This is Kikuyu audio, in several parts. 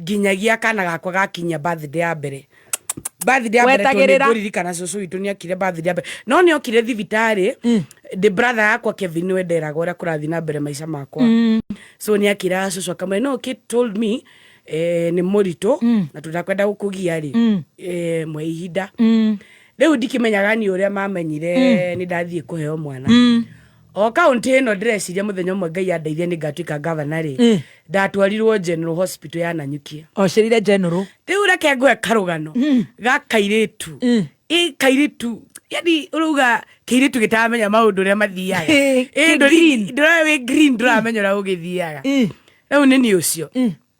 nginyagia kana gakwa gakinyia birthday ya mbere birthday ya mbere tondũ Wetagĩrĩra. nĩngũririkana cũcũ witũ nĩakire birthday ya mbere no nĩokire thibitarĩ ndĩ brother yakwa Kevin nĩwe nderaga ũrĩa kũrathiĩ na mbere maica makwa so nĩakĩraga cũcũ akamwĩra no kid told me eh, nĩ mũritũ na tũtakwenda gũkũgia rĩ eh, mwe ihinda rĩu ndikĩmenyaga niĩ ũrĩa mamenyire nĩ ndathiĩ kũheo mwana o kaunti ĩno ndĩreciria mũthenya ũmwe ngai andeithia nĩ ngatuĩka ngavana rĩ Eh. ndatwarirwo general hospital ya nanyukia ocerire general rĩu reke ngwe karũgano ga kairĩtu Mm. ĩ kairĩtu yani ũrauga kairĩtu gĩtaramenya maũndũ ũrĩa mathiaga Eh, Ĩ, kĩ ndũri- green. ndũra wĩ green ndũramenya ũrĩa ũgĩthiaga Mm. rĩu nĩ niĩ ũcio Mm.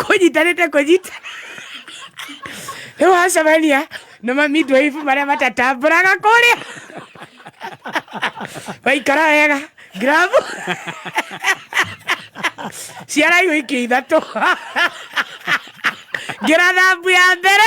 kũnyitanĩte kũnyita rĩu wacemania na mamindwaibu marĩa matatambũraga kũrĩa waikara wega gramu ciaraigũ ikĩ ithatũ ngira thambu ya mbere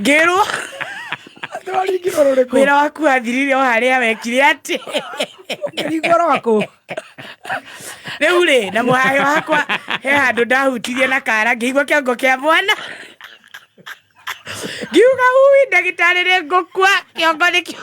ngĩrwo wĩra waku wathirire o harĩa wekire atĩ rĩu rĩ na mũhayo wakwa he handũ ndahutirie na kara ngĩigua kĩongo kĩa mwana ngiuga ui ndagĩtarĩ rĩ ngũkua kĩongo nĩkĩo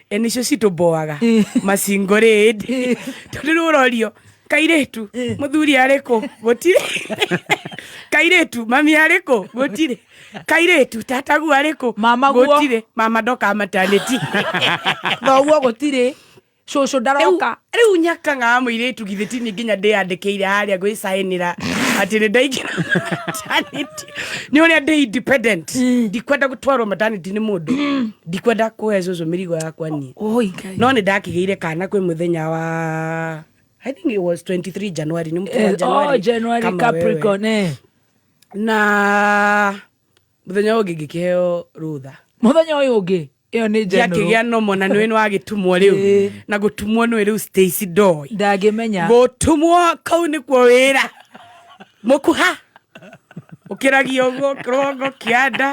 e nicio citũmboaga macingo rĩndi tondũ rĩu ũrorio kairĩtu mũthuri arĩkũ gũtirĩ kairĩtu mami arĩkũ gũtirĩ kairĩtu tatagu arĩkũ Mama guo. gũtirĩ mama ndoka matanĩti thoguo gũtirĩ cũcũ ndaroka rĩu nyakangaa mũirĩtu githĩ tini nginya ndĩyandĩkĩire harĩa gwĩcaĩnĩra atĩ nĩ ndaingĩra maternity. nĩ ũrĩa ndĩ independent ndikwenda gũtwarwo maternity nĩ mũndũ ndikwenda kũhe cũcũ mĩrigo yakwa niĩ Oi, Ngai. no nĩ ndakĩgĩire kana kwĩ mũthenya wa I think it was 23 January nĩ mũthenya wa Eh, January, oh, January kama wewe. Capricorn, eh. na mũthenya ũyũ ũngĩ ngĩkĩheo rũtha mũthenya ũyũ ũngĩ ĩyo nĩ njanũrũ gĩakĩgĩa nomo na nĩwe nĩwagĩtumwo rĩu Ĩĩ. na gũtumwo nĩwe rĩu stacy ndoi ndangĩmenya gũtumwo kau nĩkuo wĩra mũkuha ũkĩragia ũguo kĩrongo kĩanda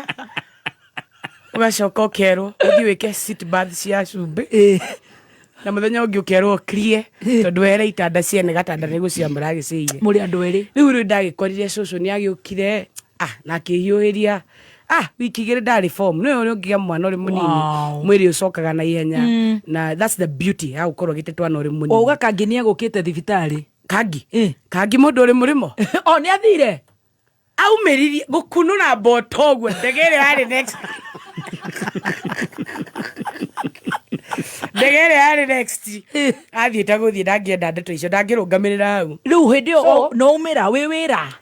ũgacoka ũkerwo ũthiĩ wĩke seat bath cia cumbĩ Ĩĩ. na mũthenya ũngĩ ũkerwo ũkirie tondũ were itanda ciene gatanda nĩguo cia mũragĩcĩire mũrĩ andũ erĩ rĩu rĩu ndagĩkorire cũcũ nĩ agĩũkire ah na akĩhiũhĩria ah wiki igĩrĩ ndarĩ form nĩwe ũrĩa ũngĩgĩa mwana ũrĩ mũnini Wow. mwĩrĩ ũcokaga na ihenya na that's the beauty ya gũkorwo ũgĩte twana ũrĩ mũnini oga kangi nä egå kä te thibitarä kangi Eh. kangi mũndũ ũrĩ mũrĩmo o nä athire aumĩririe gũkunũra mboto ũguo ndege ĩrĩa yarĩ next ndege ĩrĩa yarĩ next athiĩte gũthiĩ ndangĩenda ndeto icio ndangĩrũngamĩrĩra hau rä u hä ndä ä So- yo no å mä ra wä wä ra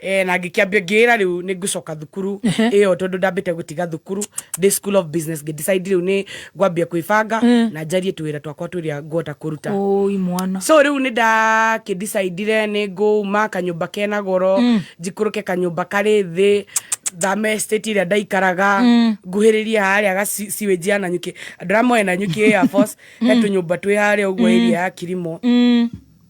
Eh, na ngĩkĩambia ngĩra rĩu nĩ ngũcoka thukuru ĩyo tondũ ndambĩte gũtiga thukuru ndĩ school of business ngĩdecide rĩu nĩ ngwambia kwĩbanga na njarie twĩra twakwa twĩrĩa ngũhota kũruta Ũi mwana. so rĩu nĩ ndakĩdicidire nĩ ngũuma kanyũmba kena goro njikũrũke kanyũmba karĩ thĩ thame state ĩrĩa ndaikaraga nguhĩrĩrie harĩa gaciwĩnji ya nanyuki andũ arĩa moĩ nanyuki air force he tũnyũmba twĩ harĩa ũguo area ya kirimo